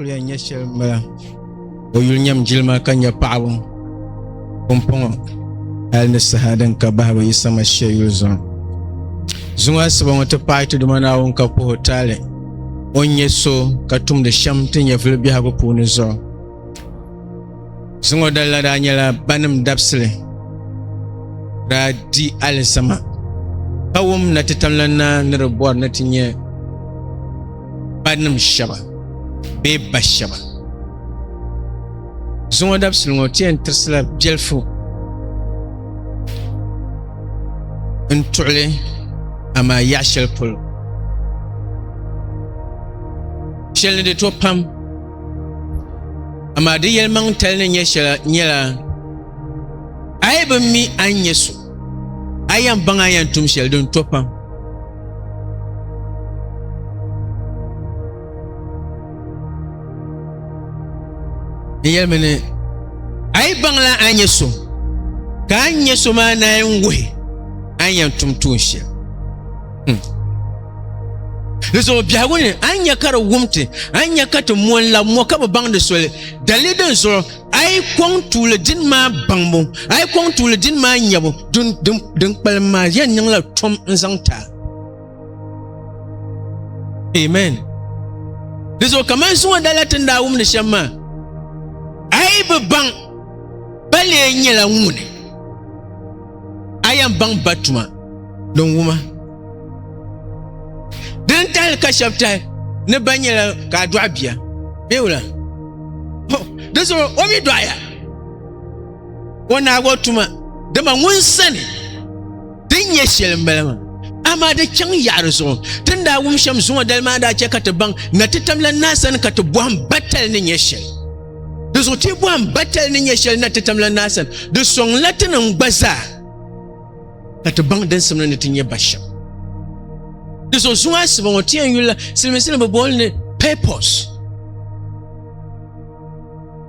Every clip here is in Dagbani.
kuliya nyɛ shɛli n bala o yuli nyɛm jilima ka nyɛ paɣaba pumpɔŋɔ hali ni saha din ka bahibu yi sama shɛ yuli zuɣu zuŋɔ asiba ŋɔ ti paai ti duma naawuni ka puhi taali o nyɛ so ka tumdi shɛm ti nyɛvili biɛhigu puuni zuɣu Ziŋɔ dalila daa nyɛla banim dabisili daa di alizama ka wum na ti tamla naa ni di bɔri ni ti nyɛ banim shɛba bee ba shɛba. Ziŋɔ dabisili ŋɔ ti yɛn tirisila biɛlifu n-tuɣili amaa yaɣ shɛli polo shɛli ni di to pam. Amaa di yɛlimaŋ tali ni nyɛ shɛla nyɛla a yi bi mi a ni nyɛ so a yɛn baŋ a yɛn tum shɛli din to pam n yɛlimi ni a yi baŋla a nyɛ so ka a nyɛ so maa naan wuhi a yɛn tum tuun shɛli hmm. Di zuɣu biɛhigu ni a nya ka di wum ti, a nya ka ti mo n-lab mo ka bi baŋ di soli. Dali din zuɣu a yi kɔŋ tuuli dini maa baŋbu, a yi kɔŋ tuuli dini maa nyabu, din kpalim maa yɛn niŋla tom n-zaŋ ti a. Amen. Di zuɣu kaman zuŋɔ dala ti ni daa wumdi shɛm maa, a yi bi baŋ ba lee nyɛla ŋuni, a yɛn baŋ ba tuma din wuma. din tahali ka shɛb tahi ni ba nyɛla ka a dɔɣi bia bee wula di zuɣu o mi dɔɣiya o naagi o tuma dama ŋun sani din nyɛ shɛli m-bala maa amaa di chaŋ yaɣiri zuɣu ti ni daa wum shɛm zuŋɔ dali maa daa chɛ ka ti baŋ na ti tamla naa sani ka ti bɔhim batali ni nyɛ shɛli di zuɣu ti bɔhim batali ni nyɛ shɛli na ti tamla naa sani di sɔŋla ti ni gba zaa ka ti baŋ din simdi ni ti nyɛ ba shɛm. Di zuɣu zuŋɔ asiba ŋɔ ti yɛn yulila silimiinsi ni bi booli ni purpose.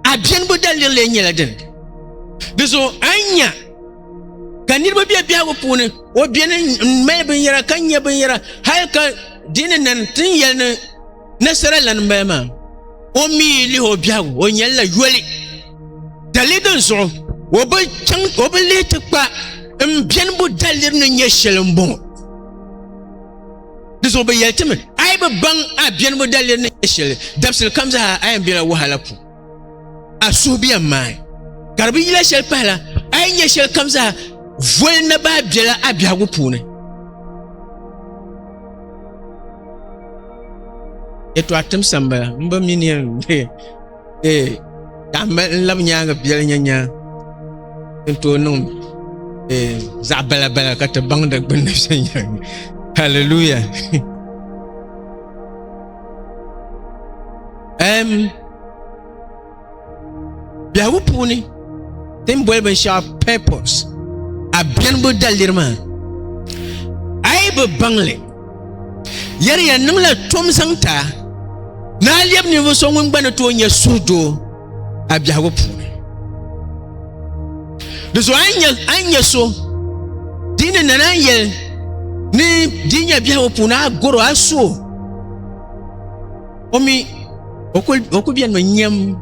A biɛnibu daliri lee nyɛla din di zuɣu a nya ka niriba bɛ biɛhigu puuni o biɛni n mali binyɛra ka nyɛ binyɛra hali ka dini nan tin yɛli ni Nasara lana n bala maa o mii lihi o biɛhigu o nyɛlila yoli dali din zuɣu o bi chaŋ o bi lihi ti kpa n biɛnibu daliri ni nyɛ shɛli n bɔŋɔ di zuɣu bi yɛli timi a yi bi baŋ a biɛnibu daliri ni nyɛ shɛli dabisili kam zaa a yɛn biɛla wahala puuni a suhubiɛm maa ka di bi yila shɛli pahila a yi nyɛ shɛli kam zaa voli na baa biɛla a biɛhigu puuni eto a tim sambala n ba mini yɛn ee ka n labi nyaanga biɛli nyɛ nyaa n tooi niŋ ee zaɣ bala bala ka ti baŋ di gbunni viɛnyɛlinga hallelujah biɛhigu puuni ti ni boli binshaɣu purpose a biɛnibu daliri maa a yi bi baŋli yɛri ya niŋla tom zaŋ ta ni a lɛbi ninvuɣu so ŋun gba ni tooi nyɛ suhudoo a biɛhigu puuni di zuɣu a ni nyɛ so dii ni nana yɛli ni dii nyɛ biɛhigu puuni a goro a suo o mi o ku bɛnimi nyɛm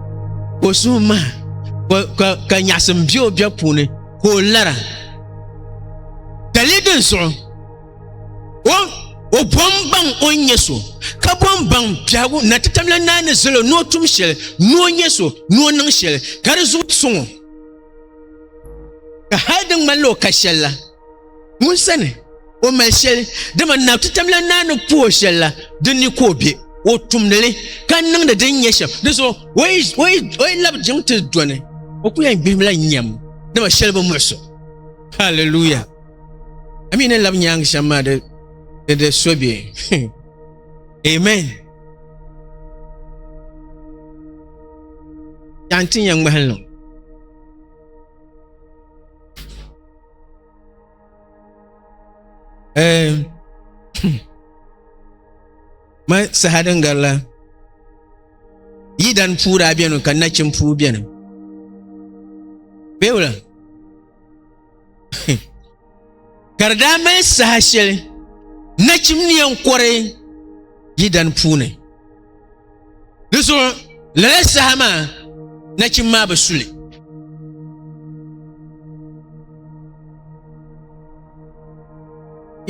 ka o suhu maha ka nyaɣasim bɛ o bɛ puuni ka o lara ka lee din zuɣu o bom baŋ o ni nyɛ so ka bom baŋ biɛhagu na ti tamla naa ni zali o ni o tum shɛli ni o nyɛ so ni o niŋ shɛli ka di zuɣu soŋ o ka hali di ŋmanila o ka shɛli la Ŋun sani o mali shɛli dama na ti tamla naa ni puhi o shɛli la din ni ka o be o tumdili ka niŋdi din nyɛ shɛm di zuɣu o yi labi jiŋ ti doni o ku yɛn gbihimla nyɛm dama shɛli bi muɣuso halleluya a mi ni labi nyaangi shɛm maa di di so be amen yaanti nyɛ ŋmahili Eh, ma saha din gari la yi dan puu daa bɛni ka nachin puu bɛni bɛ wula ka di daa mali saha shɛli nachim ni yɛn kɔri yi dan puuni Di zuɣu lala saha maa nachim maa bi suli.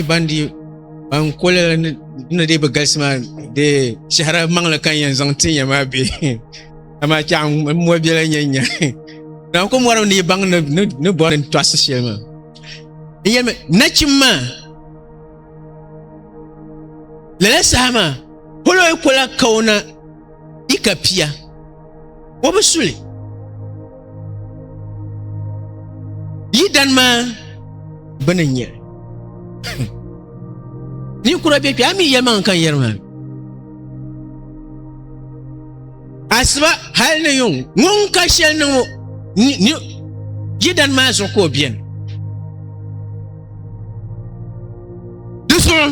Ban di ban kuli ni dee bi galisi maa dee shɛhira maŋli ka n yɛn zaŋ ti nya maa bɛ amaa chɛɣ n mɔri biɛla nyɛ nya zaŋ ku mɔri ni baŋ ni bɔri n tɔɣisi shɛli maa n yɛlimi nachim maa Lala saha maa Holoy kola kaona i ka pia o bi suli yi dan maa bini nyɛ ninkura bɛ kpɛ a mi yɛlimaŋ kan yɛri maa Asiba hali ni yuŋ ŋun ka shɛli ni ŋɔ jidani maa zuɣu ka o beni di zuɣu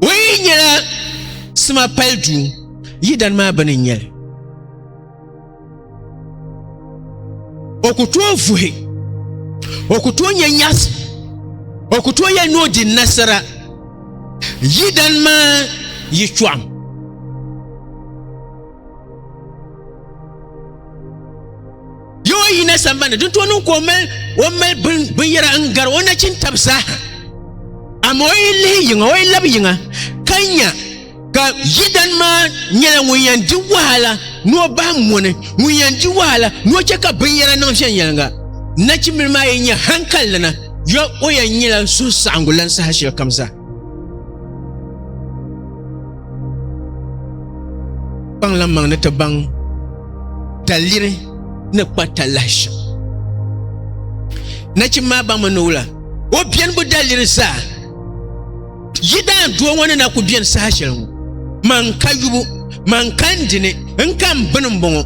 o yi nyɛla sima pali duu yidani maa bini n-nyɛli O ku tooi vuhi, o ku tooi yɛn nyaɣisi, o ku tooi yɛn ni o di nasara yidana maa yitɔɣim. Yo o yina sambani din tooi niŋ ka o mali binyɛra n-gari o nachintab zaaha, amaa o yi lihi yiŋa, o yi labi yiŋa ka nya ka yidani maa nyɛla ŋun yɛn di wahala ni o bahi mɔni ŋun yɛn di wahala ni o chɛ ka binyɛra niŋ viɛnyɛliŋga nachimbili maa yɛn nyɛ hankali lana yɔ o yɛn nyɛla suhusaɣingu lan saha shɛli kam zaa kpaŋlam maŋ ni ti baŋ taliri ni kpa talahi shɛm nachim maa baŋmi ni wula o biɛni bu daliri zaa Yi daan doo ŋɔ ni na ku beni saha shɛli ŋɔ, man ka yubu, man ka n dini, n ka m bini m-bɔŋɔ,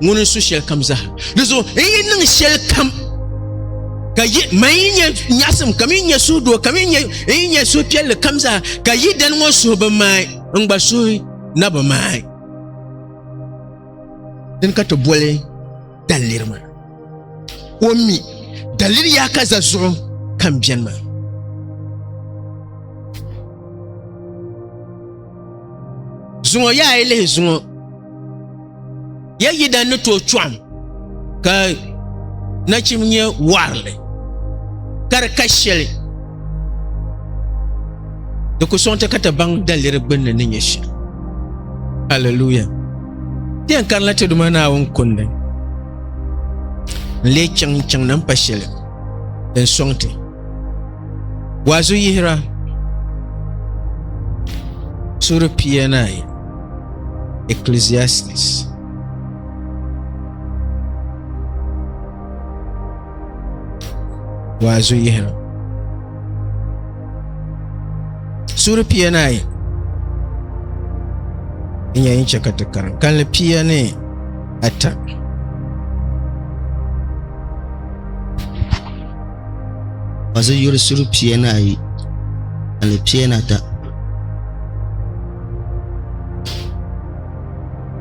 ŋuni n-su shɛlikam zaa. Di zuɣu n yi niŋ shɛlikam, ka yi, man yi nyɛ nyaɣisim kam, yi nyɛ suhudoo kam, yi nyɛ, n yi nyɛ suhupiɛlli kam zaa, ka yi dani ŋɔ suhi bi maai, n gba suhi na bi maai. Dini ka ti boli. daliri maa o mi daliri yaa ka za zuɣu kan biɛni maa zuŋɔ yaa yi lihi zuŋɔ ya yidana ni tooi chɔɣim ka nachim nyɛ warili ka di ka shɛli di ku sɔŋti ka ti baŋ daliri gbunni ni nyɛ shɛli hallelujah Yɛn kanila ti duma Naawuni kundi n-lee chaŋ chaŋ na m-pa shɛli din sɔŋ ti. Waazu yihira suuri pia ni ayi Ecclesiastes waazu yihira. Suri pia ni ayi n nyɛ yɛn chɛ ka ti karim kanli pia ni ata ka zi yuri suri pia ni ayi kanli pia ni ata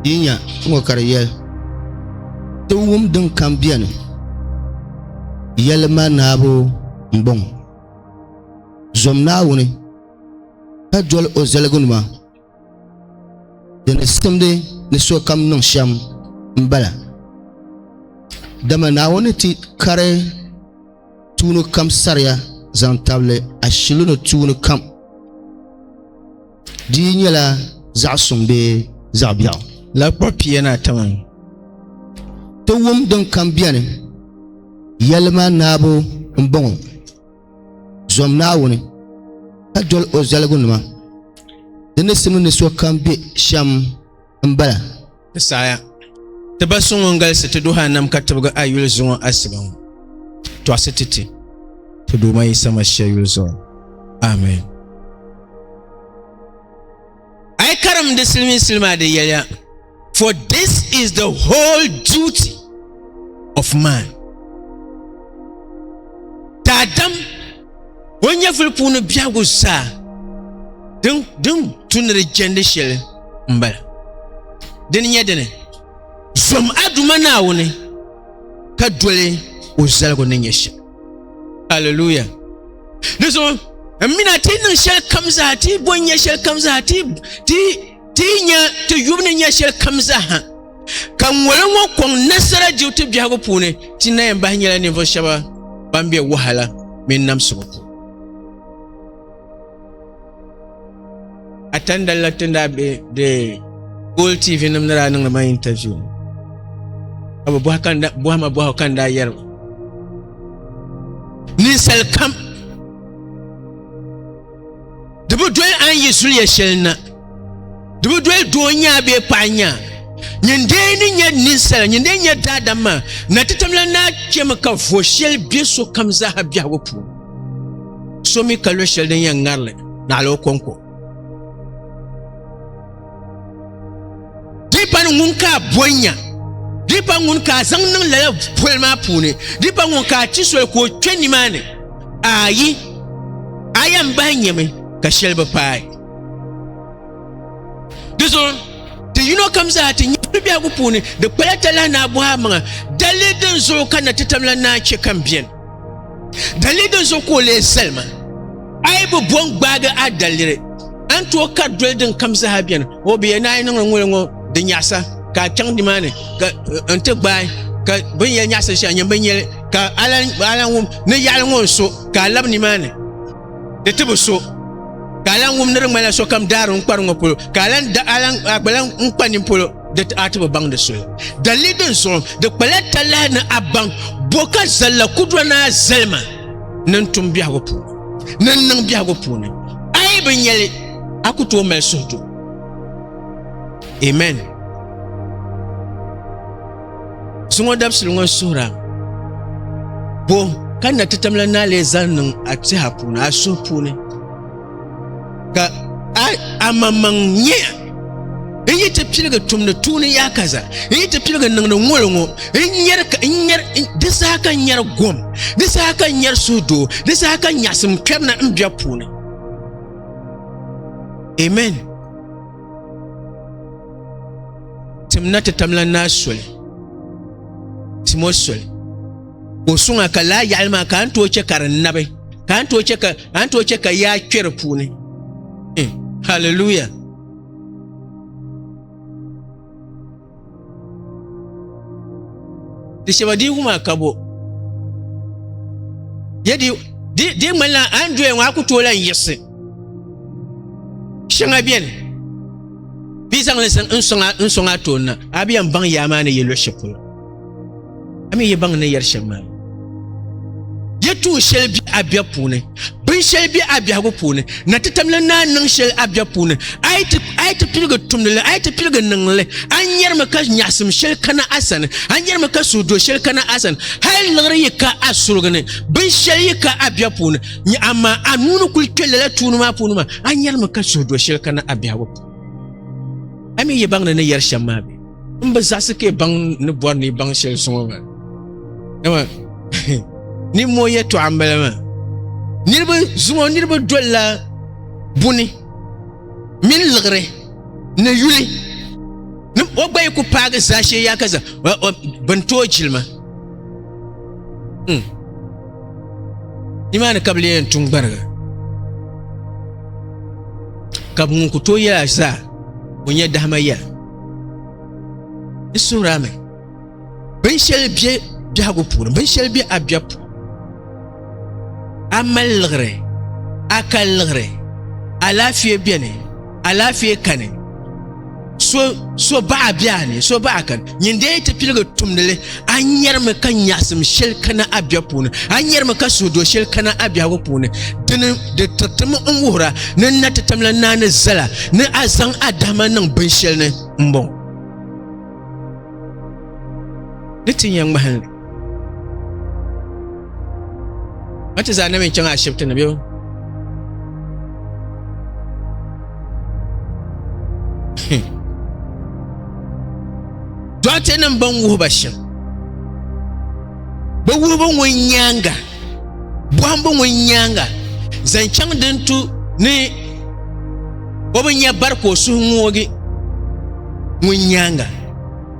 ka yi nyɛ n ŋɔ ka di yɛli tiwum din kam biɛni yɛlima naabu n bɔŋɔ zom naawuni ka doli o zaliginima di ni simdi ni sokam niŋ shɛm n bala dama naawuni ti kari tuuni kam saria zaŋ tabili ashili ni tuuni kam Di yi nyɛla zaɣ suŋ bee zaɣ biɛɣu. Lala kpuɣi pia ni ata maa ti wum din kam biɛni yɛlima naabu m-bɔŋɔ, Zom Naawuni, ka doli o zaligunima, di ni simdi ni sokam be shɛm. n bala. Ti saaya, ti ba so ŋun galisi ti duhi anam ka tibigi a yuli zuŋɔ asiba ŋɔ, tɔɣisi ti ti ti Duuma Yisa Mashia yuli zuɣu. Amen. A yi karim di siliminsili maa di yɛliya, For this is the whole duty of man. Daadam O ni nyɛvili puuni biɛhigu zaa din tu ni di jɛndi shɛli m-bala. Di ni nyɛ dini, zom a Duuma Naawuni ka doli o zaligu ni nyɛ shɛm. Aleluya! Di zuɣu m-mina ti yi niŋ shɛlikam zaa, ti yi bɔn nya shɛlikam zaa, ti yi nya ti yubu ni nya shɛlikam zaa ha, ka ŋoli ŋɔ kɔŋ nasara dibu ti biɛhigu puuni ti na yɛn bahi nyɛla ninvuɣu shɛba ban bɛ wahala mini namsibu puuni a tandali la tin daa bɛ de gool tv nim ni daa niŋdi ma interview ka bi bɔhi kan bɔhi ma bɔhi kan daa yɛri ninsali kam Di bi doli a ni yi zuliya shɛli na. Di bi doli doo nyaa bee paɣa nyaa. Nyin dee ni nyɛ ninsala, nyin dee nyɛ daadam maa, na ti tamla naa kpɛmi ka vo shɛli be sokam zaaha biɛhigu puuni. So mi ka lo shɛli din yɛn ŋarili, naɣila o kɔŋko. di pa ni ŋun ka a bɔnya di pa ŋun ka a zaŋ niŋ lala poli maa puuni di pa ŋun ka a ti soli ka o kpɛ nimaani ayi a yɛn bahi nyɛmi ka shɛli bi paai di zuɣu ti yino kam zaa ti nyɛ biɛhigu puuni di kpala talahi ni a bɔhi a maŋa dalili din zuɣu ka na ti tamla naa chɛ ka n biɛni Dalili din zuɣu ka o lee zali ma a yi bi bo n-gbaagi a daliri a ni tooi kari doli din kam zaa beni o bi yɛn naai niŋla ŋuli ŋɔ di nyaɣisa ka a chaŋ nimaani ka eh, n ti gbaai ka bin yɛn nyaɣisiri shɛli nyɛ bin yɛli ka ala wum ni yaɣali ŋɔ n so ka a labi nimaani di ti bi so ka a lahi wum ni di ŋmanila sokam daari n kpari ŋɔ polo ka a lahi gba lahi n kpa nimpolo di ti a ti bi baŋ di soli dalili din zuɣu di kpala talahi ni a baŋ bo ka zalla kudura ni a zalima ni n tum biɛhigu puuni ni n niŋ biɛhigu puuni a yi bi nyɛli a ku tooi mali suhudu amen zuŋɔ dabisili ŋɔ suhura bo ka na ti tamla ni a lee zali niŋ a tiha puuni a suhu puuni ka amaŋmaŋ nyɛ n yi ti piligi tumdi tuuni yaa kaza n yi ti piligi niŋdi ŋoli ŋo di saha ka n nyɛri gom di saha ka n nyɛri suhudoo di saha ka nyaɣasim kpɛri na n bɛ puuni amen timna ti tamla naa soli timo soli ka o suŋ a ka laa yaɣali maa ka a ni tooi chɛ ka di nabi ka a ni tooi chɛ ka a ni tooi chɛ ka yaa kpɛ di puuni eh, hallelujah di shɛba diigu maa ka bo yɛ di di di ŋmanila a ni doya ŋɔ a ku tooi lan yiɣisi shɛŋa bɛni bɛ zaŋli n sɔŋ a tooni na a bi yɛn baŋ yaa maa ni yɛ luɣu shɛli polo A mi yi baŋ ni yɛri shɛm maa. Yi tuhi shɛli bɛ a biɛh puuni, bin shɛli bɛ a biɛhigu puuni, na ti tamla naan niŋ shɛli a biɛh puuni. A yi ti, a yi ti piligi tumdi li, a yi ti piligi niŋ li, a ni nyɛrimi ka nyaɣisim shɛli kana a sani, a ni nyɛrimi ka suhudoo shɛli kana a sani. Hal liɣiri yi ka a surigi ni, bin shɛli yi ka a biɛh puuni, nya amaa a nuu ni kul kpe lala tuuni maa puuni maa, a ni nyɛrimi ka suhudoo shɛli kana a biɛhigu puuni. A mi yi baŋ ni ni yɛri shɛm maa bɛ? N bi zaɣisi ka baŋ ni bɔri ni baŋ shɛli suŋɔ maa. Dama nimmoo yɛtɔɣa m-bala maa. Niriba zuŋɔ niriba dolila buni mini liɣiri ni yuli ni o gba yi ku paagi zaashee yaa ka za bin tooi jilima. Hmm. Nimaani ka bi lee yɛn tuŋ gbariga ka ŋun ku tooi yɛla zaa o nyɛ dahima ya. di suhira mi binshɛli bɛ biɛhigu puuni binshɛli bɛ abɛ puuni a mali liɣiri a ka liɣiri alaafee biɛni alaafee kani so baɣa biɛha ni so baɣa kani nyin dee ti piligi tumdili a nyɛrimi ka nyaɣasim shɛli kana a biɛɣu puuni a nyɛrimi ka suhudo shɛli kana a biɛhigu puuni dini di tiritimi n wuhura ni n na ti tamla naa ni zala ni a zaŋ a dahama niŋ binshɛli ni n bɔŋɔ ni ti nya ŋmahinli a ti zaa na mi n chaŋ ashibiti ni bɛ Hmm. Dɔɣite nim bɛn wuhi ba shɛm bɛ wuhibu ŋɔ nyaaŋa bɔhimbu ŋɔ nyaaŋa zaŋ chaŋ din tu ni o bi nya bari ka o suhu ŋoogi ŋɔ nyaaŋa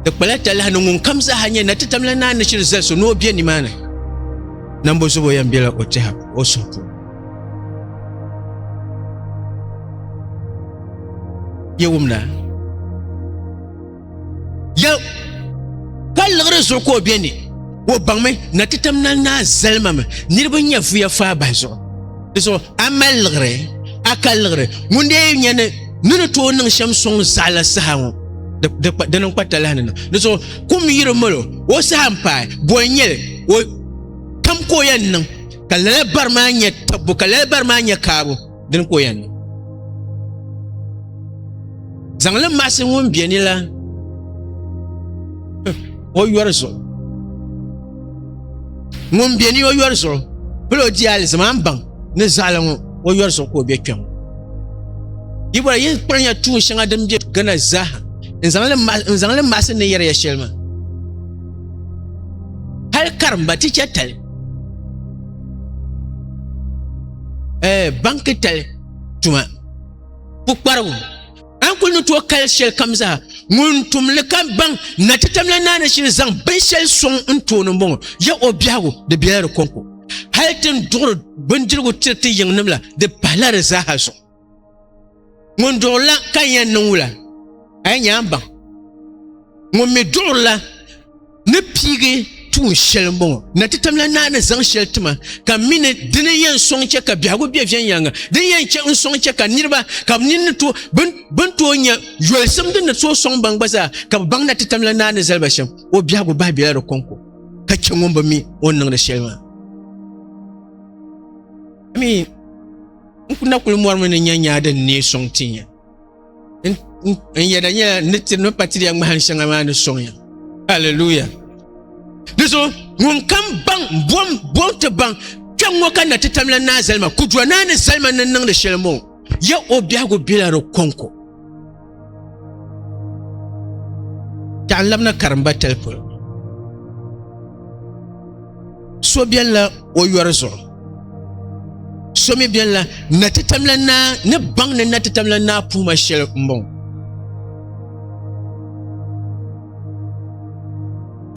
di kpala talahi ni ŋun kam zaaha nyɛ na ti tamla naa ni shiri zali so ni o be nimaani nambo zubo yɛn bela o tɛha o suhu puuni yɛ wumna Ya ka liɣiri zuɣu ka o bɛ ni o baŋmi na ti tam nali naa zalimami niriba nyɛ vuya faa bahi zuɣu di zuɣu a mali liɣiri a ka liɣiri ŋun dee nyɛ ni ni ni tooi niŋ shɛm sɔŋ zaɣila saha ŋɔ di niŋ kpa talahi ni di zuɣu kum yiri malo o saha n paai boli nyɛli o tam ka o yɛn niŋ ka lala bari maa nyɛ tabbu ka lala bari maa nyɛ kaabu dini ka o yɛn niŋ zaŋli maɣasi ŋun bɛ ni la o yɔri zuɣu ŋun bɛ ni o yɔri zuɣu pili o diya alizama n baŋ ni zaɣala ŋɔ o yɔri zuɣu ka o bɛ kpɛm yi bɔra yin kpanya tuun shɛŋa din bɛ gana zaaha n zaŋli maɣasi ni yɛriya shɛli maa hali karimba ti chɛ tali eh, ban tali tuma pukparigu an kuli ni tooi kali shɛli kam zaa ŋun tumli ka baŋ na ti tamla naani shili zaŋ binshɛli soŋ n tooni n bɔŋɔ ya o biɛhigu di biɛla di kɔŋko hali tin duɣiri bindirigu tiri ti yiŋnim la di pahila di zaaha zuɣu ŋun duɣurila ka n yɛn niŋ wula a yi nyaŋ baŋ ŋun mi duɣurila ni piigi tuun shɛli n bɔŋɔ na ti tamla naa ni zaŋ shɛli tima ka mi ni dini yɛn sɔŋ chɛ ka biɛhigu bɛ viɛnyɛliŋga din yɛn chɛ n sɔŋ chɛ ka niriba ka bi nini to bin tooi nya yolisim din ni tooi sɔŋ baŋ gba zaa ka bi baŋ na ti tamla naa ni zali ba shɛm o biɛhigu bahi bela di kɔŋko ka chɛ ŋun bi mi o ni niŋdi shɛli maa N ku na kuli mɔrimi ni nya nyaa din neei sɔŋ ti ya. N yɛda nyɛla ni tiri ni pa tiriya ŋmahin shɛŋa maa ni sɔŋ ya. Haleluya! Di zuɣu ŋun kam baŋ bom bom ti baŋ kpɛm ŋɔ ka na ti tamla naa zalima, kudura naa ni zalima ni niŋdi shɛli moo, ya o biɛhigu bela di kɔŋko. Taɣan labina karimba talipoli so biɛnila o yɔri zuɣu so mi biɛnila na ti tamla naa ni baŋ ni na ti tamla naa puuma shɛli n bɔŋɔ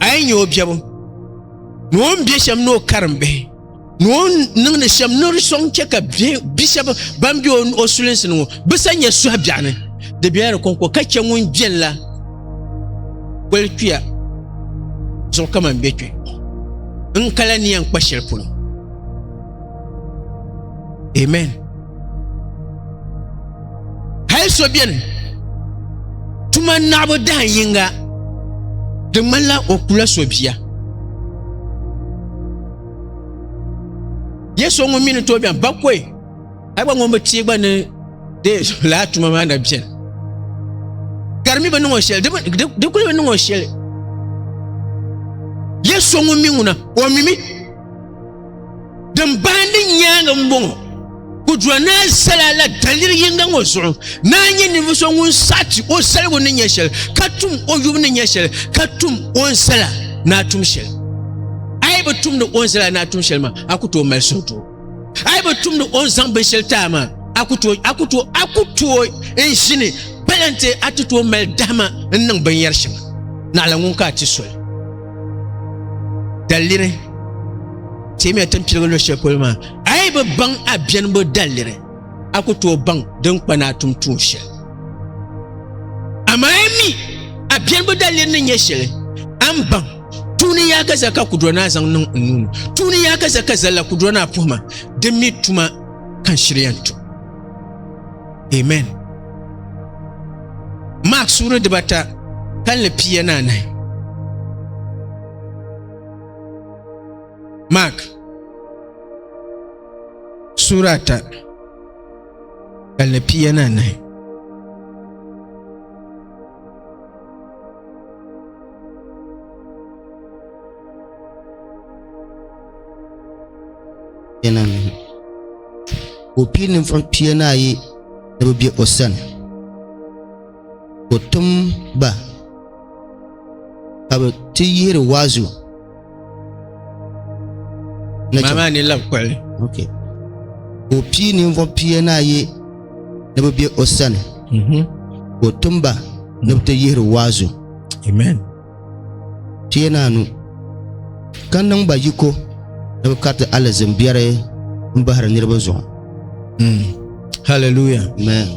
a yi nyɛ o biɛbu ni o ni bɛ shɛm ni o karim bihi ni o niŋdi shɛm ni di sɔŋ chɛ ka bi shɛba ban be o sulinsi ni ŋɔ bi sa nyɛ suhi biɛɣu ni di bela di kɔŋko ka chɛ ŋun beni la poli kpiya zuɣu kaman bɛ kpi n kala ni yɛn kpa shɛli polo amen hali so beni tuma naɣibu dahin yinga di ŋmanila o kula so bia yɛ so ŋun mi ni tooi bɛni bakoi a gba ŋun bi tee gba ni de laa tuma maa na bɛni ka di mi bi niŋɔ shɛli di kuli bi niŋɔ shɛli yɛ so ŋun mi ŋuna o mimi din bahindi nyaanga n bɔŋɔ Kudura naa zala la daliri yinga ŋɔ zuɣu naa nyɛ ninvuɣu so ŋun saɣati o zaligu ni nyɛ shɛli ka tum o yubu ni nyɛ shɛli ka tum o ni zala naa tum shɛli a yi bi tumdi o ni zala naa tum shɛli maa a ku tooi mali suhudoo a yi bi tumdi o ni zaŋ binshɛli taai maa a ku tooi a ku tooi a ku tooi n ʒini palante a ti tooi mali dahima n niŋ binyɛri shɛŋa naɣila ŋun ka a ti soli daliri teemiya timpiligu lo shɛli polo maa A yi bi baŋ a biɛnbu daliri, a ku tooi baŋ din kpa ni a tum tuun shɛli. Amaa a mi a biɛnbu daliri ni nyɛ shɛli, a ni baŋ tuuni yaakaza ka kudura naa zaŋ niŋ n nuu ni, tuuni yaakaza ka zalla kudura naa puhi ma, di mi tuma ka n shiri yɛn tum. Amen. Mark suuri dibata kalinli pia ni anahi. Mak sura ata ka li piya ni anahi o pii ninvuɣ pia ni ayi ni bi bɛ o sani ka o tim ba ka bi ti yihiri waazu Maa maa ni labi kuɣili. Okay. Ka o pii ninvuɣ pia ni ayi ni bɛ be o sani mhm. ka o tim ba ni bɛ ti yihiri waazu. Amen. Pia ni anu ka niŋ ba yiko ni bɛ kariti alizin biɛri m-bahiri niriba zuɣu. Mm. Hallelujah. Amen.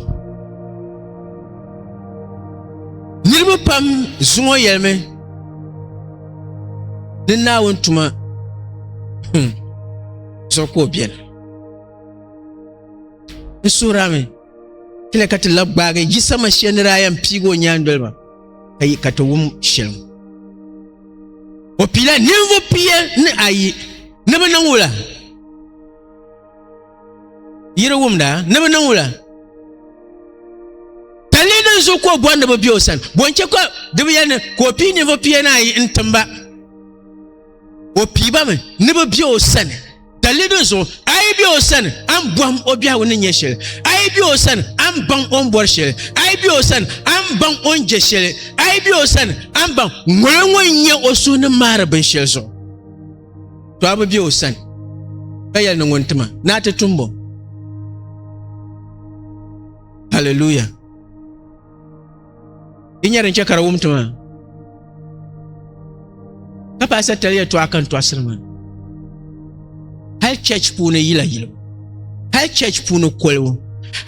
Niriba pam zuŋɔ yɛlimi ni naawuni tuma hmm, zuɣu ka o beni n suhirami tila ka ti la gbaagi yisa mashia ni daa yɛn piigi o nyaandoli maa ka yi ka ti wum shɛli ŋɔ o piila ninvuɣ pia ni ayi ni bi niŋ wula Yiri wumda ni bi niŋ wula palli din zuɣu ka o bɔri ni bi bɛ o sani bɔnchɛ ka di bi yɛli ni ka o pii ninvuɣu pia ni ayi n timba o piiba mi ni bi bɛ o sani palli din zuɣu a yi bɛ o sani an bɔhim o biɛhigu ni nyɛ shɛli a yi bɛ o sani an baŋ o ni bɔri shɛli a yi bɛ o sani an baŋ o ni jɛ shɛli a yi bɛ o sani an baŋ ŋɔlo ŋɔ n nyɛ o suhu ni maari binshɛli zuɣu to a bi be o sani ka yɛli ni ŋun tima ni a ti tumbo haleluya di nyɛ din chɛ ka di wum tima ka paɣa satali yɛtɔɣa kan tɔɣasiri maa hali chɛch puuni yila yilibu hali chɛch puuni kolibu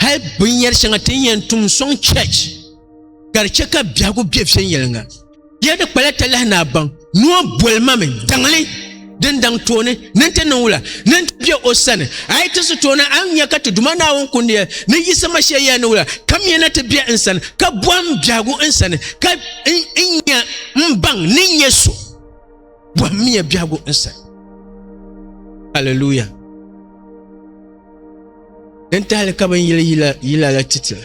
hali binyɛri shɛŋa ti ni yɛn tum sɔŋ chɛch ka di chɛ ka biɛhigu bɛ viɛnyɛliŋga Yɛ di kpala talahi ni a baŋ ni o boli ma mi daŋli din daŋ tooni ni ti niŋ wula ni ti bɛ o sani a yi ti si tooni a nya ka ti Duuma Naawuni kundiya ni yiɣisima shɛli yɛli ni wula ka mi na ti bɛ n sani ka bɔhim biɛhigu n sani ka n nya n baŋ ni n nyɛ so bɔhim miya biɛhigu n sani Hallelujah N tahali ka bin yili yila la titila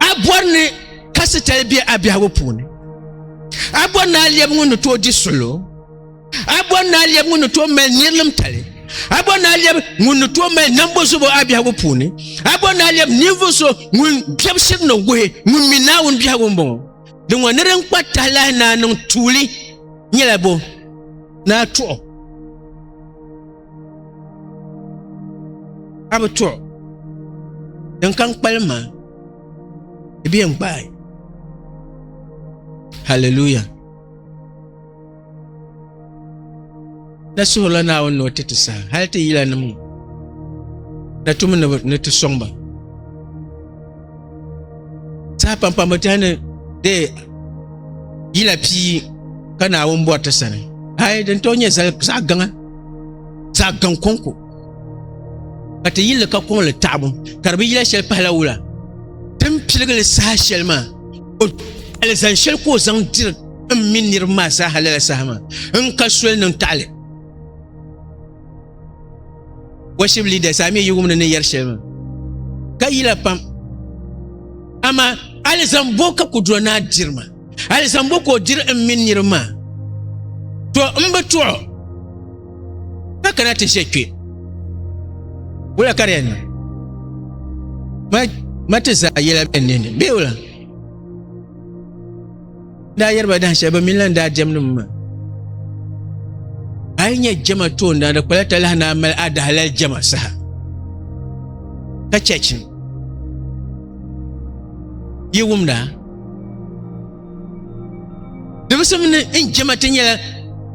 a bɔri ni kasitali be a biɛhigu puuni a bɔri ni a lɛbi ŋun ni tooi di solo a bɔri ni a lɛbi ŋun ni tooi mali nirilim tali a bɔri ni a lɛbi ŋun ni tooi mali nambo zubo a biɛhigu puuni a bɔri ni a lɛbi ninvuɣu so ŋun biɛbisiri ni wuhi ŋun mi naawuni biɛhigu n bɔŋɔ din ŋɔ ni din kpa tahilahi naa niŋ tuuli nyɛla bo ni a tuɣi ka bi tuɣu din kan kpalim maa di bɛ yɛn gbaai haleluya na suhurila naawuni ni o ti ti saha hali ti yila nim ŋɔ na tumi ni ti sɔŋ ba saha pampam bi tiɛhi ni dee yila pii ka naawuni bɔri ti sani ai din tooi nyɛ zaɣ gaŋa zaɣ gaŋ kɔŋko ka ti yilli ka kɔŋ li taɣabu ka di bi yila shɛli pahila wula din piligili saha shɛli maa o alizan shɛli ka o zaŋ diri n mini niriba maa zaaha lala saha maa n ka soli niŋ taɣali worship leaders a mi yi wumni ni yɛri shɛli maa ka yila pam amaa alizan bo ka kudura naa diri ma Hali zaŋ bo ka o diri n mini niriba maa? To n bi tuɣu ka kana ti ʒe kpe. Wula ka di yɛn niŋ? Ma, ma ti zaa yɛla bɛ nini, bee wula? Daa yɛri ba dahin shɛli bɛ mini lan daa jɛmdi mi maa. A yi nyɛ jɛma toondana, di kpala talahi ni a mali a dahalali jɛma saha. Ka chɛchi ni yi wumda dimsim ni n jɛma ti nyɛla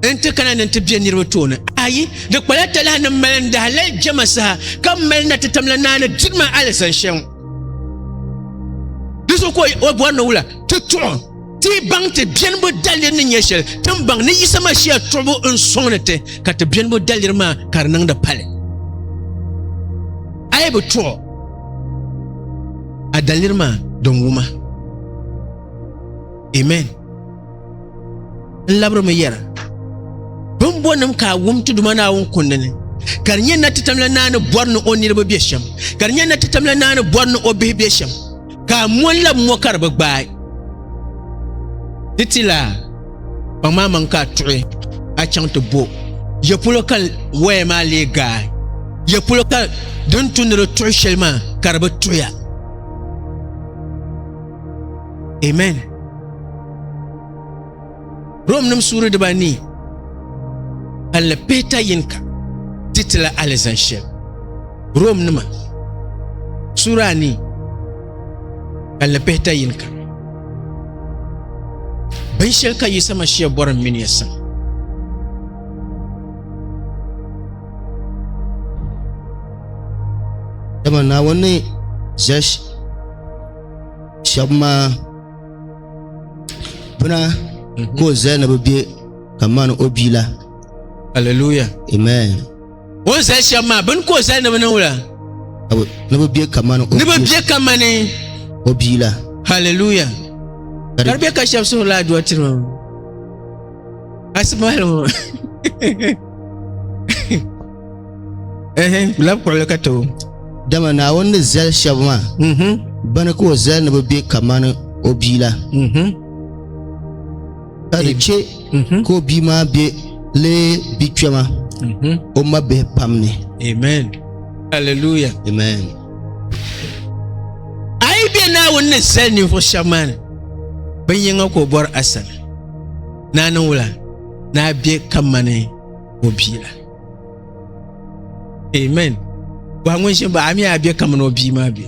n ti kana ni ti bɛ niraba tooni ayi di kpala talahi ni mali n daha lali jɛma saha ka mali na ti tamla naa ni diri ma alizan shɛm di so ka o bɔri ni wula ti tuɣu ti baŋ ti biɛnibu daliri ni nyɛ shɛli tin baŋ ni yisa mashiya tuɣubu n soŋ ni ti ka ti biɛnibu daliri maa ka di niŋdi pali a yi bi tuɣu a daliri maa din wuma amen n labirimi yɛra bimbonim ka a wum ti duma naawuni kundi ni ka di nyɛ na ti tamla naani bɔri ni o niriba be shɛm ka di nyɛ na ti tamla naani bɔri ni o bihi be shɛm ka a mɔnla mɔ ka di bi gbaai ti ti la Kpaŋ maa maŋ ka a tuɣi a chaŋ ti bo. Yɛ polo ka waya maa lee gaai? Yɛ polo ka din tu ni di tuɣi shɛli maa ka di bi tuɣiya? Amen. Rom nim suuri dibanii ka li pihita yini ka ti ti la alizan shɛli. Rom nima sura anii ka lipihita yini kam binshɛli ka Yisa Mashia bɔri m mini ya saŋ dama Naawuni ni ʒe shɛba maa bina ka o zali ni bɛ be kamani o bia la Hallelujah amen O ni zali shɛba maa bini ka o zali ni bi niŋ la. Ni bi bɛ kamani. Ni bi bɛ kamani. O bia la. Hallelujah. Ka di bɛ ka shɛba suhuri la aduwa tiri ma. Asimahali ŋɔ. Ɛhɛn labi kɔɣili ka too. Dama Naawuni ni zali shɛba maa. Mhm. Bini ka o zali ni bi bɛ kamani o bia la. Mhm. ka di chɛ ka o bia maa bɛ lee bia kpɛma o ma bihi pam ni amen hallelujah amen a yi bɛ naawuni ni zali ninvuɣu shɛba maa ni bin yɛŋa ka o bɔri asali naa niŋ wula naa bɛ ka mani o bia la amen bɔhi ŋun ʒini baɣa mi a bɛ kamani o bia maa bɛ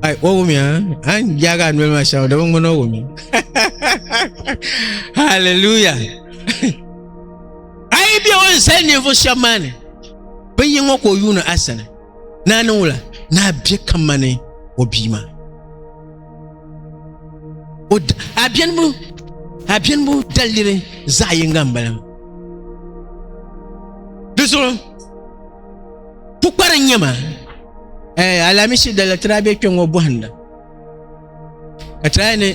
ai o wumi a an yaagi a noli maa shɛŋa dama ŋmani o wumi haleluya ai bɛ o ni sali ninvuɣu shɛba maa ni bin yi ŋɔ ka o yuuni a sani naa niŋ wula naa bɛ kamani o bia maa abiɛnibu abiɛnibu daliri zaɣ yinga n bala di zuɣu pukpari n nyɛ ma alamisi dala tira bɛ kpɛ ŋɔ bohanda ka tira ni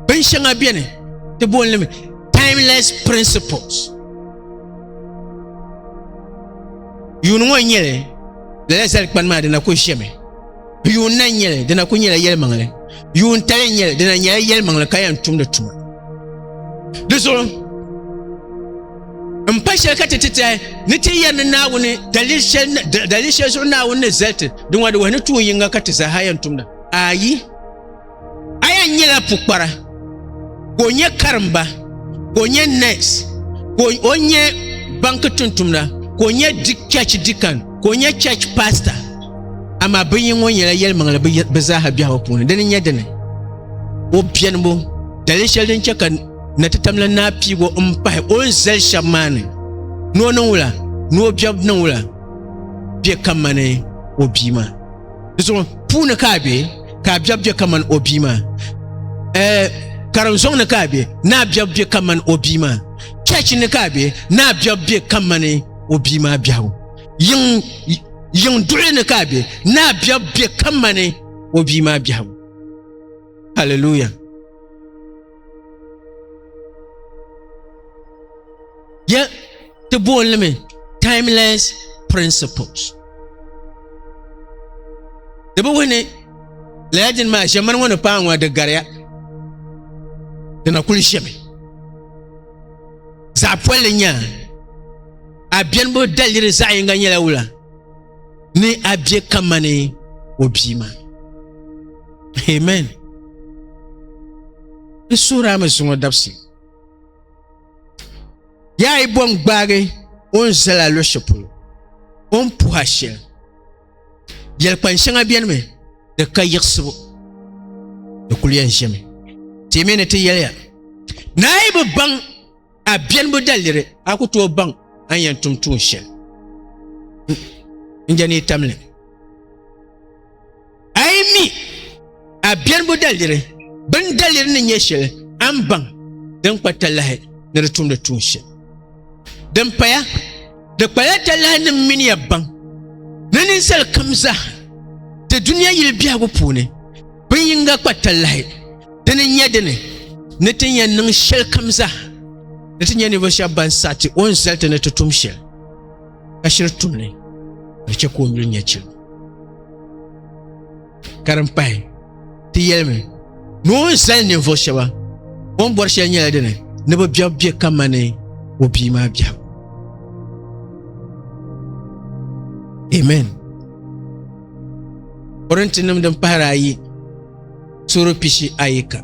bin shɛŋa biɛni ti booni limi timeless principles yuuni ŋɔ n nyɛli lala zali kpani maa dina ku ʒɛmi yuun na nyɛli dina ku nyɛla yɛlimaŋli yuun tali nyɛli dina nyɛla yɛlimaŋli ka yɛn tumdi tuma di zuɣu n pa shɛli ka ti ti tahi ni ti yɛri ni naawuni dalili shɛli zuɣu naawuni ni zali ti di ŋɔ di wahi ni tuun yinga ka ti zaaha yɛn tumda ayi Aya nyɛla pukpara ka o nyɛ karimba ka o nyɛ nurse ka o nyɛ banki tuntumda ka o nyɛ church deacon ka o nyɛ church pastor amaa binyini ŋɔ nyɛla yɛlimaŋli bi zaaha biɛhigu puuni dini nyɛ dini o biɛnibu dali shɛli din chɛ ka na ti tamla naa piigo n pahi o ni zali shɛba maa ni ni o niŋ wula ni o biɛbu niŋ wula bɛ ka mani o bia maa Di zuɣu puuni ka a be ka a biɛbu be kamani o bia maa. Eh, karim zɔŋ ni ka a be ni a biɛbu be kamani o bia maa. Church ni ka a be ni a biɛbu be kamani o bia maa biɛhigu. Yiŋ, yiŋ duɣuli ni ka a be ni a biɛbu be kamani o bia maa biɛhigu. Hallelujah. ya ti booni limi timeless principles di bi wuhi ni lala dini maa ʒɛmani ŋɔ ni paai ŋɔ di gariya di na kuli ʒɛmi zaɣ polli nyaa a biɛni bo daliri zaɣ yinga nyɛla wula ni a bɛ kamani o bia maa amen n suhiri a mi zuŋɔ dabisi yaa yi bɔŋ gbaagi o ni zala luɣushɛli polo o ni puha shɛli yɛlikpani shɛŋa bɛni mi di ka yiɣisibu di kuli yɛn ʒɛmi ti mi ni ti yɛliya naa yi bi baŋ A biɛnbu daliri a ku tooi baŋ a ni yɛn tum tuun shɛli n-je ni tamli ni. A yi mi a biɛnbu daliri, bini daliri ni nyɛ shɛli a ni baŋ din kpa talahi ni di tumdi tuun shɛli. Din paya, di kpala talahi ni m mini ya baŋ ni ninsal kam zaa ti dunia yili biɛhigu puuni Bin yinga kpa talahi dini n-nyɛ dini ni ti yɛn niŋ shɛlikam zaa ni ti nyɛ ninvuɣ shɛba ban saɣi ti o ni zali ti ni ti tum shɛli ka shiri tum ni ka chɛ ka o yuli nyɛ chiligu ka din pahi ti yɛlimi ni o ni zali ninvuɣ shɛba o ni bɔri shɛli nyɛla dini ni bi biɛbu be kamani o bia maa biɛhigu amen Korinti nim din pahari ayi suhuri pishi ayi ka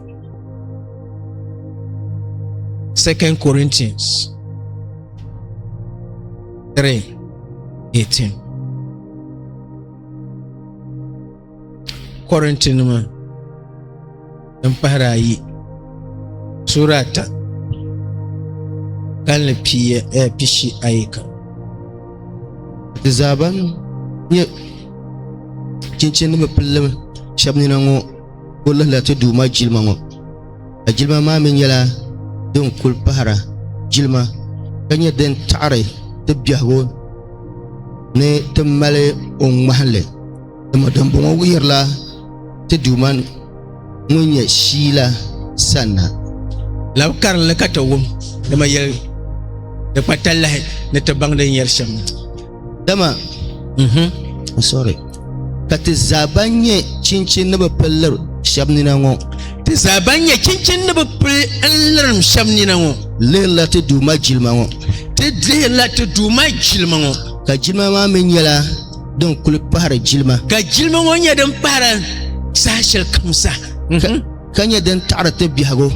Second Corinthians 3 18 Korinti nima din pahiri ayi suura ata kalinli piiya eh, pishi ayi kam ti zaa ban nyɛ chinchini ni bi pilli shɛba nina ŋɔ o lihila ti duuma jilima ŋɔ ka jilima maa mi nyɛla din kuli pahira jilima ka nyɛ din taɣiri ti biɛhigu ni ti mali o ŋmahinli Dama dimbɔŋɔ wuhirila ti Duuma ŋun nyɛ shii la sanna. Lab karinli ka ti wum, dama yɛl di kpa talahi ni ti baŋ din yɛri shɛm na. Dama, mhm, sorry, ka ti zaa ban nyɛ chinchin ni bi pili lir shɛb nina ŋɔ, ti zaa ban nyɛ chinchin ni bi pili n-lirim shɛb nina ŋɔ, lihirila ti Duuma jilima ŋɔ, ti lihirila ti Duuma jilima ŋɔ, ka jilima maa mi nyɛla din kuli pahari jilima ka jilima ŋɔ nyɛ din pahara saha shɛli kam sa ka nyɛ din taɣari ti biɛhigu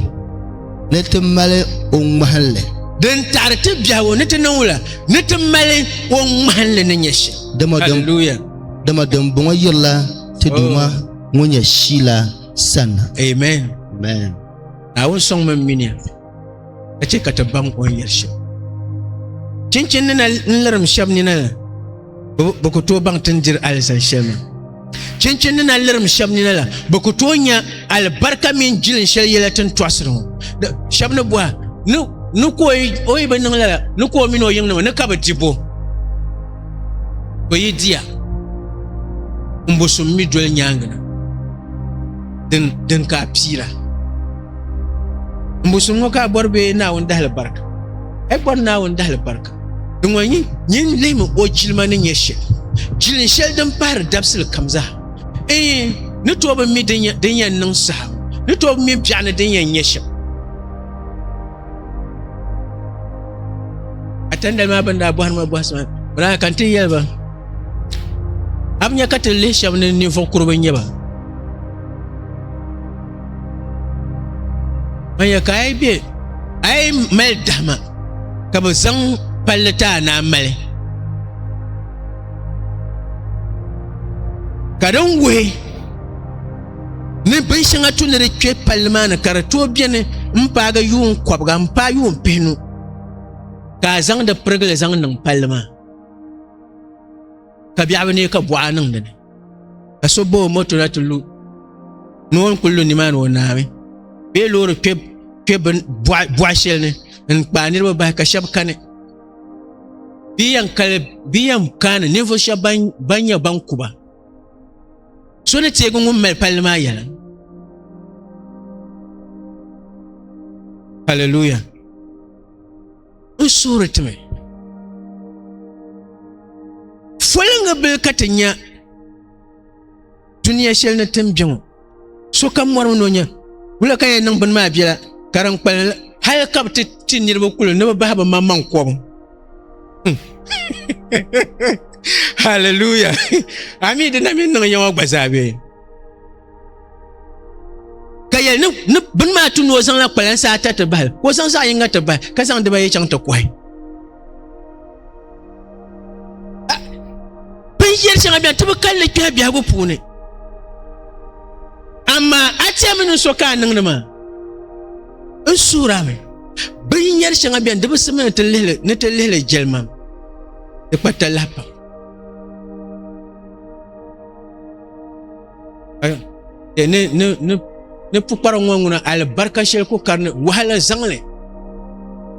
ni ti mali o ŋmahinli din taɣari ti biɛhigu ni ti niŋ wula ni ti mali o ŋmahinli ni nyɛ shɛm dama dimbɔŋɔ yirila ti duuma oh. ŋun nyɛ shila sanna amen amen awun sɔŋ min mini ka chɛ ka ti baŋ o ni yɛli shɛm chinchin nina n lirim shɛb nina la bi ku tooi baŋ tin diri alizan shɛli maa chinchin nina lirim shɛb nina la bi ku tooi nya alibarika mini jilin shɛli yɛla tin tɔɣasiri ŋɔ shɛb ni bɔha ni ka o yi bi niŋ lala ni ka o mini o yiŋ nima ni ka bi di bo ka yi diya n bo so mi doli nyaangi na din ka a piira n bo so ŋɔ ka a bɔri bee Naawuni dahili barika? A yi bɔri Naawuni dahili barika, di ŋɔ nyin lihimi o jilima ni nyɛ shɛli, jilin shɛli din pahiri dabisili kam zaa. Iin, ni tooi bi mi din yɛn niŋ saha, ni tooi bi mi biɛɣu ni din yɛn nyɛ shɛm. A tandali maa bɛn daa bɔhiri ma bɔhisi maa, biraaya ka n ti yɛli ba, A bi nya ka ti lihi shɛba ni ninvuɣ kuri bi nyɛ ba? ban ya ka a yi bɛ a yi mali dahima ka bi zaŋ palli ti a naa mali ka din wuhi ni bin shɛŋa tu ni di kpɛ palli maa ni ka di tooi biɛni n paagi yuun kɔbiga n paai yuun pihinu ka a zaŋdi pirigili zaŋ niŋ palli maa ka biɛɣu ni ka buɣa niŋ dini ka so ba o moto na ti lu ni o ni kuli lu nimaani o naami bee loori kpɛ kpɛ buɣa shɛli ni n kpaai niraba bahi ka shab kani bia yɛn kaani ninvuɣu shab ban nyɛ ban kuba so ni teegi ŋun mali palli maa yɛla hallelujah n suhuri ti mi foliŋga bili ka ti nya duniya shɛli ni tin bɛ ŋɔ sokam mɔri mi ni o nya wula ka yɛn niŋ bini maa biɛla ka din kpalim la hali ka bi ti ti niriba kuli ni bi bahi bi maŋmaŋ kɔbu haleluya ami dina mi niŋ yɛŋɔ gba zaa bee ka yɛli ni ni bini maa tu ni o zaŋla kpalansi ata ti bahi ka o zaŋ zaɣ yinga ti bahi ka zaŋ dibayi chaŋ ti kɔhi binyɛri shɛŋa bɛni ti bi kalli kpɛhi biɛhigu puuni amaa a tiɛmi ni so ka a niŋdi maa n suura mi binyɛri shɛŋa bɛni di bi simi ni ti lihili jɛlimam di kpa talahi pam ni pukpara ŋɔ ŋuna alibarika shɛli ku karini wahala zaŋli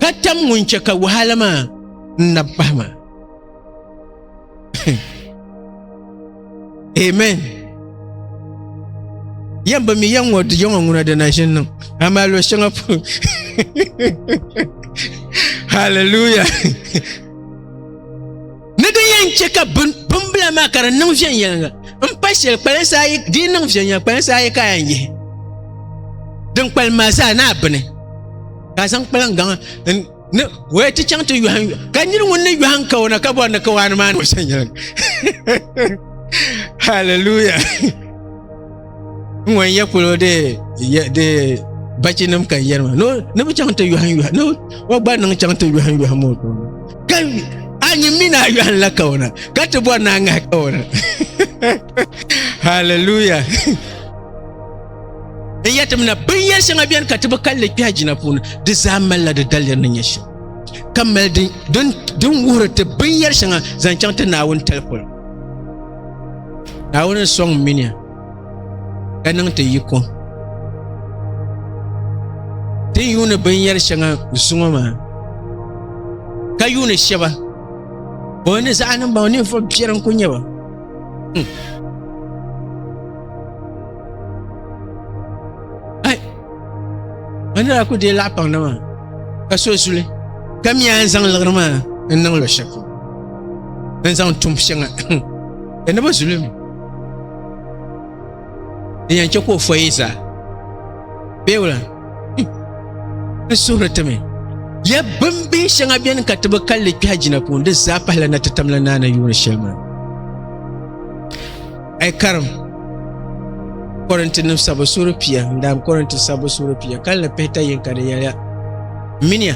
ka tam ŋun chɛ ka wahala maa n na pahi maa amen yɛn bi mi yɛn ŋɔ di yɛŋɔ ŋuna di na ʒini niŋ amaa lo shɛŋa pun hallelujah Ni di yɛn chɛ ka bimbila maa ka di niŋ viɛnyɛliŋga m-pa shɛli kpalansi ayi di yi niŋ viɛnyɛliŋga kpalansi ayi ka a yɛn yihi din kpalim maa zaa ni a bini ka a zaŋ kpalaŋ gaŋa ni o ya ti chaŋ ti yɔhim ka niri ŋun ni yɔhim kawana ka bɔri ni kawana maa ni o viɛnyɛliŋga hallelujah n ŋun yɛ polo de de bachi nim ka yɛri ma ni bi chaŋ ti yɔhim yɔhim ni o gba niŋ chaŋ ti yɔhim yɔhim o tooni ka a nyi mi na yɔhim la kawana ka ti bɔri na ŋahi kawana hallelujah n yɛ tim na binyɛri shɛŋa bɛni ka ti bi kalli kpɛha jina puuni di zaa malila di daliri ni nyɛ shɛm ka mali din wuhiri ti binyɛri shɛŋa zaŋ chaŋ ti naawuni tali polo Naawuni sɔŋ mini ya ka niŋ ti yi kom. Ti ni yuuni binyɛri shɛŋa zuŋɔ maa ka yuuni shɛba bɔ ni zaɣa nim ba ninvuɣu biɛri n ku nyɛ ba. Hmm. Ka nira ku deei laɣa paŋda maa ka so zuli ka mi a ni zaŋ liɣiri maa n niŋ luɣ shɛli polo n zaŋ tum shɛŋa ka ni bi zuli mi di yɛn chɛ ka o fɔyi zaa bee wula n suhuri ti mi ya bimbihi shɛŋa beni ka ti bi kalli kpɛha jina puuni di zaa pahila na ti tamla naana yuuni shɛli maa A yi karim Kɔrintinim sabu suuri pia n-daam Kɔrinti sabu suuri pia kalinli pihita yinka di yɛliya, M mini ya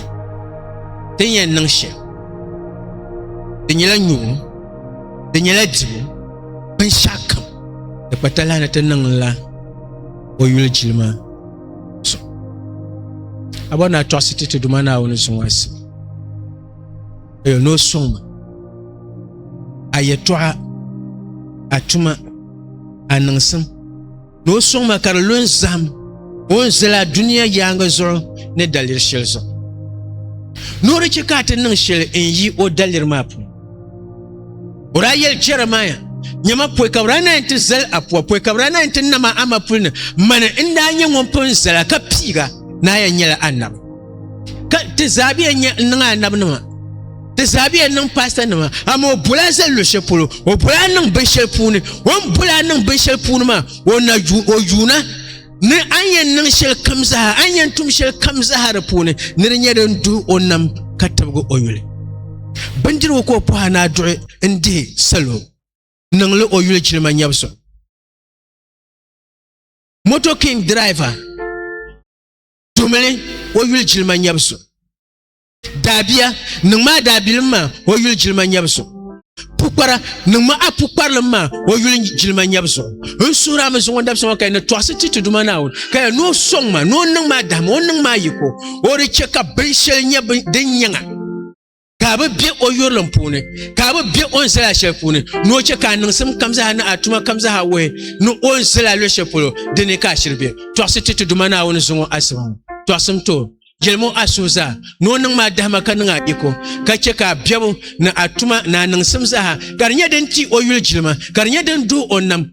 ti ni yɛn niŋ shɛm di nyɛla nyubu, di nyɛla dibu, binshɛɣu kam di kpa talahi ni ti niŋla o yuli jilima zuɣu. A bɔri ni a tɔɣisi ti ti Duuma Naawuni zuŋɔ asibu. Ayo ni o suŋ ma a yɛtɔɣa a tuma a niŋsim ni o suŋ ma ka di lu n zaham o ni zali a duniya yaangi zuɣu ni daliri shɛli zuɣu ni o di chɛ ka a ti niŋ shɛli n yi o daliri maa puuni o daa yɛli jɛrimaya nyɛma pɔi ka bi daa na yɛn ti zali a puwa pɔi ka bi daa na yɛn ti nama a mapuli ni mani n daa nyɛ ŋun pun zala ka piiga ni a yɛn nyɛla anabi ka ti zaa bɛ yɛn n niŋ anabi nima ti zaa bɛ yɛn niŋ paasita nima amaa o bola zali luɣu shɛli polo o bola a niŋ binshɛli puuni o ni bola a niŋ binshɛli puuni maa o na ju o yuuna ni a ni yɛn niŋ shɛli kam zaa a ni yɛn tum shɛli kam zaa di puuni ni di nyɛ din duhi o nam ka tibigi o yuli bindirigu ka o pɔha ni a duɣi n dihi salo niŋli o yuli jilima nyɛbisi moto king driver tumli o yuli jilima nyɛbu so daabia niŋ maa daabilim maa o yuli jilima nyɛbu so pukpara niŋ ma a pukparilim maa o yuli jilima nyɛbu so n suhura mi zuŋɔ dabisa ŋɔ ka ni tɔɣisi ti ti duma naawuni ka ya ni o sɔŋ ma ni o niŋ maa dahima o niŋ maa yiko o di chɛ ka binshɛli nyɛ din nyɛŋa ka bi bɛ o yurilim puuni ka bi bɛ o ni zala shɛli puuni ni o chɛ ka a niŋsim kam zaa ni a tuma kam zaa wuhi ni o ni zala luɣu shɛli polo di ni ka a shiri bɛ tɔɣisi ti ti duma naawuni zuŋɔ asiba ŋɔ tɔɣisim to jɛlimo a suhu zaa ni o niŋ maa dahima ka niŋ a iko ka chɛ ka a biɛbu ni a tuma ni a niŋsim zaa ka di nyɛ din ti o yuli jilima ka di nyɛ din duhi o nam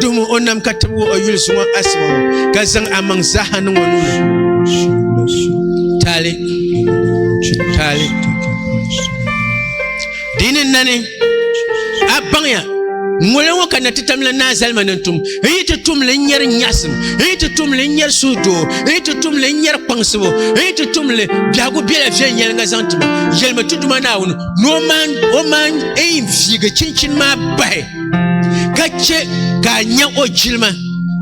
Duhi mu o nam ka tib o yuli zuŋɔ asima ŋɔ ka zaŋ amaŋ zaaha niŋ o nuuni. Taali. Taali. Dini nani a baŋya ŋole ŋɔ ka na ti tamla naa zalima ni tum n yi ti tumli n nyɛri nyaɣasim n yi ti tumli n nyɛri suhudoo n yi ti tumli n nyɛri kpaŋsibu n yi ti tumli biɛhigu biɛla viɛnyɛlinga zaŋ tuma yɛlimi ti duma naawuni ni o maan eyin viigi chinchini maa bahi ka chɛ ka a nya o jilima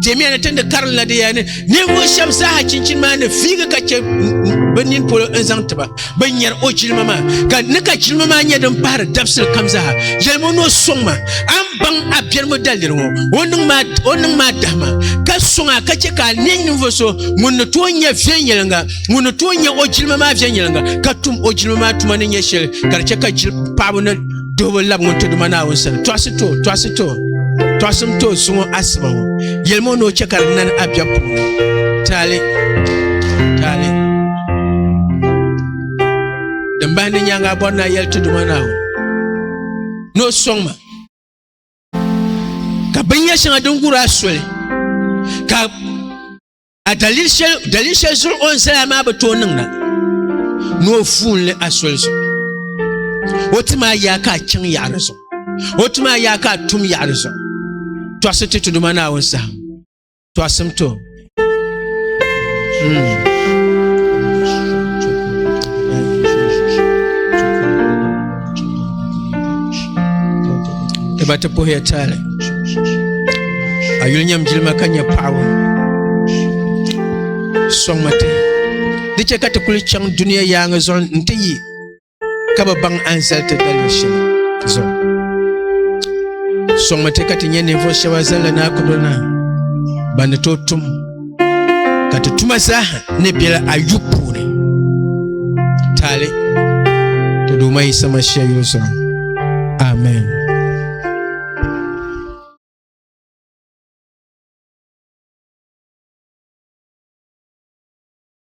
timiya ni tindi karin la diya ni ninvuɣu shɛba zaaha chinchini maa ni fiigi ka chɛ bi nini polo n zaŋ tiba bi nyɛri o jilima maa ka ni ka jilima maa nyɛ din pahari dabisili kam zaaha yɛlimi o ni o sɔŋ ma a ni baŋ a biɛrigu daliri ŋɔ o niŋ maa o niŋ maa dahima ka sɔŋ a ka chɛ ka a nɛ ninvuɣu so ŋun ni tooi nyɛ viɛnyɛlinga ŋun ni tooi nyɛ o jilima maa viɛnyɛlinga ka tum o jilima maa tuma ni nyɛ shɛli ka di chɛ ka jili paɣaba ni Duhibu labi ŋun ti duma Naawuni sani, tɔɣisi ti o, tɔɣisi ti o, tɔɣisim ti o suŋɔ asiba ŋɔ. Yɛlim o ni o chɛ ka di nani a biɛb puuni. Taali, taali. Din bahi ni nyaaŋa a bɔri ni a yɛli ti duma Naawuni ni o sɔŋ ma ka binyɛr shɛŋa din gur a soli ka A dalili shɛli zuɣu o ni zaya maa bi tooi niŋda ni o fuunli a soli zuɣu o ti maa yaa ka a chaŋ yaɣari zuɣu o ti maa yaa ka a tum yaɣari zuɣu tɔɣisi ti tuduma naawuni saha tɔɣisim to hmm. ti ba ti puhiya tali a yuli nyɛm jilima ka nyɛ paɣaba sɔŋmi ti di chɛ ka ti kuli chaŋ duniya yaaŋa zuɣu n ti yi ka bi baŋ anzali ti dalibu shɛli zuɣu sɔŋmi ti ka ti nyɛ ninvuɣu shɛba zalila naa kudurina ban ni tooi tum ka ti tuma zaaha ni bela ayu puuni taali ti Duuma Yisa Mashia yuli zuɣu. Amen.